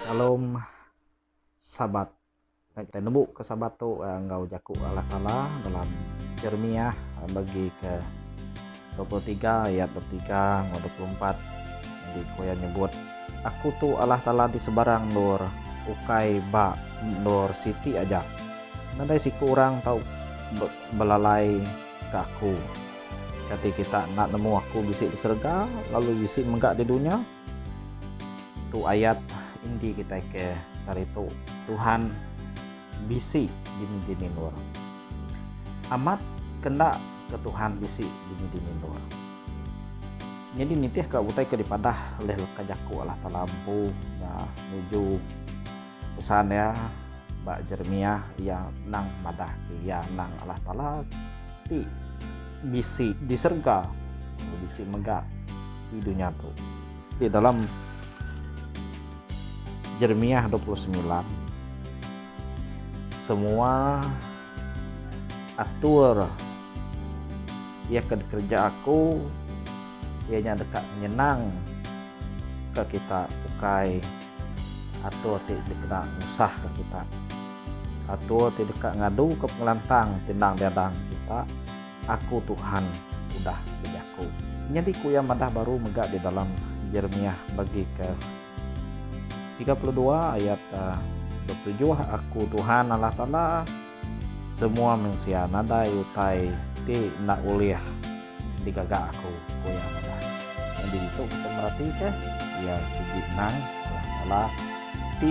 Shalom Sabat. Meh kita nembu ke Sabat tu enggau jaku Allah Taala dalam Jeremiah bagi ke dua puluh tiga ayat dua puluh tiga enggau dua puluh empat di ku iya nyebut Aku tu Allah Taala di sebarang endur ukai ba endur siti aja. Nadai siku orang tau belalai ke aku. Kati kita enda nemu aku bisi di serega lalu bisi mega di dunya? Tu ayat indi kitai ke saritu Tuhan bisi dini-dini endur. Amat ke enda ke Tuhan bisi dini-dini endur. Nyadi nitih ka utai ke dipadah ulih leka jaku Allah Taala empu nya nuju. Pesan iya ba Jeremiah iya endang madahka iya endang Allah Taala ti bisi di serega lalu bisi mega di dunya tu. Di dalam Jeremiah dua puluh semilan semua atur iya ke dikereja aku iya nya deka nyenang ke kita ukai Atur ti dikena ngusahka kita. Atur ti deka ngaduka pengelantang ti endang diada enggau kita, Aku Tuhan udah bejaku. Nyadi ku iya madah baru mega di dalam Jeremiah bagi ke tiga puluh dua ayat dua puluh tujuh, Aku Tuhan Allah Taala. Semua mensia nadai utai ti enda ulih digaga aku, ku iya madah. Nyadi ditu kita meratika iya sigi endang alah nyala ti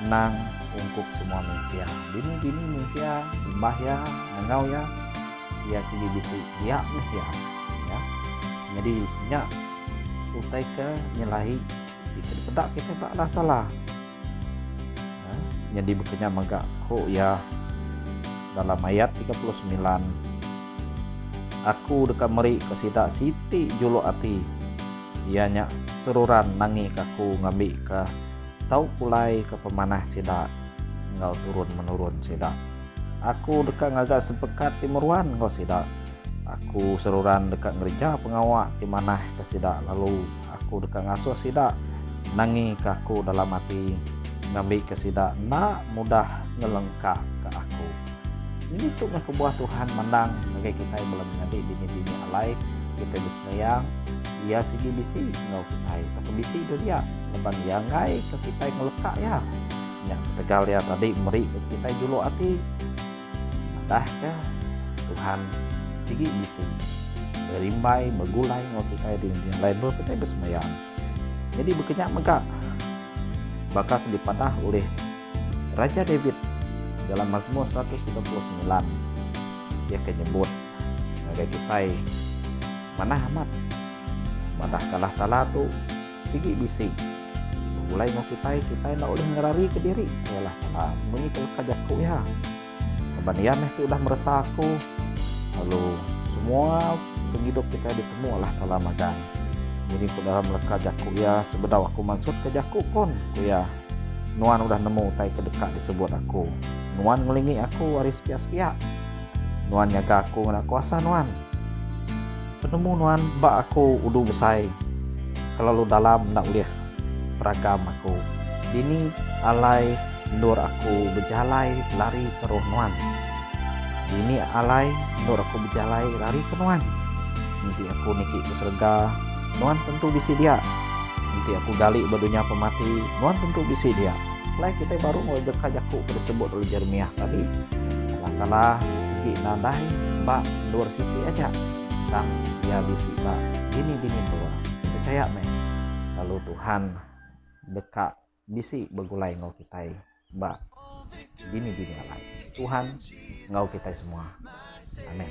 endang ungkup semua mensia. Bini-bini mensia imbah iya ngenggau iya, iya sigi bisi dia meh iya. Iya. Nyadi nya utai ke nyelahi ti ke dipeda kita ba Allah Taala. Nyadi bekenya mega ku iya dalam ayat tiga puluh semilan, Aku deka meri ka sida siti juluk ati, iya nya seruran nangi ka Aku ngambi ka tau pulai ka pemanah sida enggau turun menurun sida. Aku deka ngaga sepekat ti meruan enggau sida. Aku seruran deka ngereja pengawa ti manah ka sida lalu. Aku deka ngasuh sida nangika Aku dalam ati, ngambika sida enda mudah ngelengkaka Aku. Nyadi tu meh kebuah Tuhan mandang ngagai kitai bala menyadi dini-dini alai kitai besembayang, Iya sigi bisi enggau kitai tauka bisi deh dia laban Iya enggaika kitai ngeleka Iya. Nya ketegal Iya tadi meri kitai juluk ati. Madahka Tuhan sigi bisi berimbai begulai enggau kitai di nengeri alai endur kitai besembahyang. Nyadi baka nya mega baka ke dipadah ulih Raja David dalam Mazmur seratus tiga puluh semilan iya ke nyebut ngagai kitai manah amat madahka Allah Taala tu Sigi bisi. Begulai enggau kitai, kitai enda ulih ngerarika diri. Ayalah kala munyi ke leka jaku iya. Laban iya meh ti udah meresa aku. Lalu semua pengidup kitai ditemu Allah Taala magang. Nyadi ku dalam leka jaku iya, sebedau aku mansutka jaku pun, ku iya, Nuan udah nemu utai ke deka disebut aku. Nuan ngelingi aku ari sepiak-sepiak. Nuan nyaga aku ngena kuasa Nuan. Penemu nuan ba aku udu besai kelalu dalam enda ulih beragam aku dini alai endur aku bejalai lari ke roh nuan dini alai endur aku bejalai lari ke nuan enti aku niki ke serega nuan tentu bisi dia enti aku gali ba dunya pemati nuan tentu bisi dia alai kitai baru enggau deka jaku ke disebut oleh jeremiah tadi Allah taala sigi nadai ba Endur siti aja tang iya bisi ba bini-bini tua. Pechaya meh lalu Tuhan deka bisi begulai enggau kitai ba bini-bini alai. Tuhan enggau kitai semua. Amen.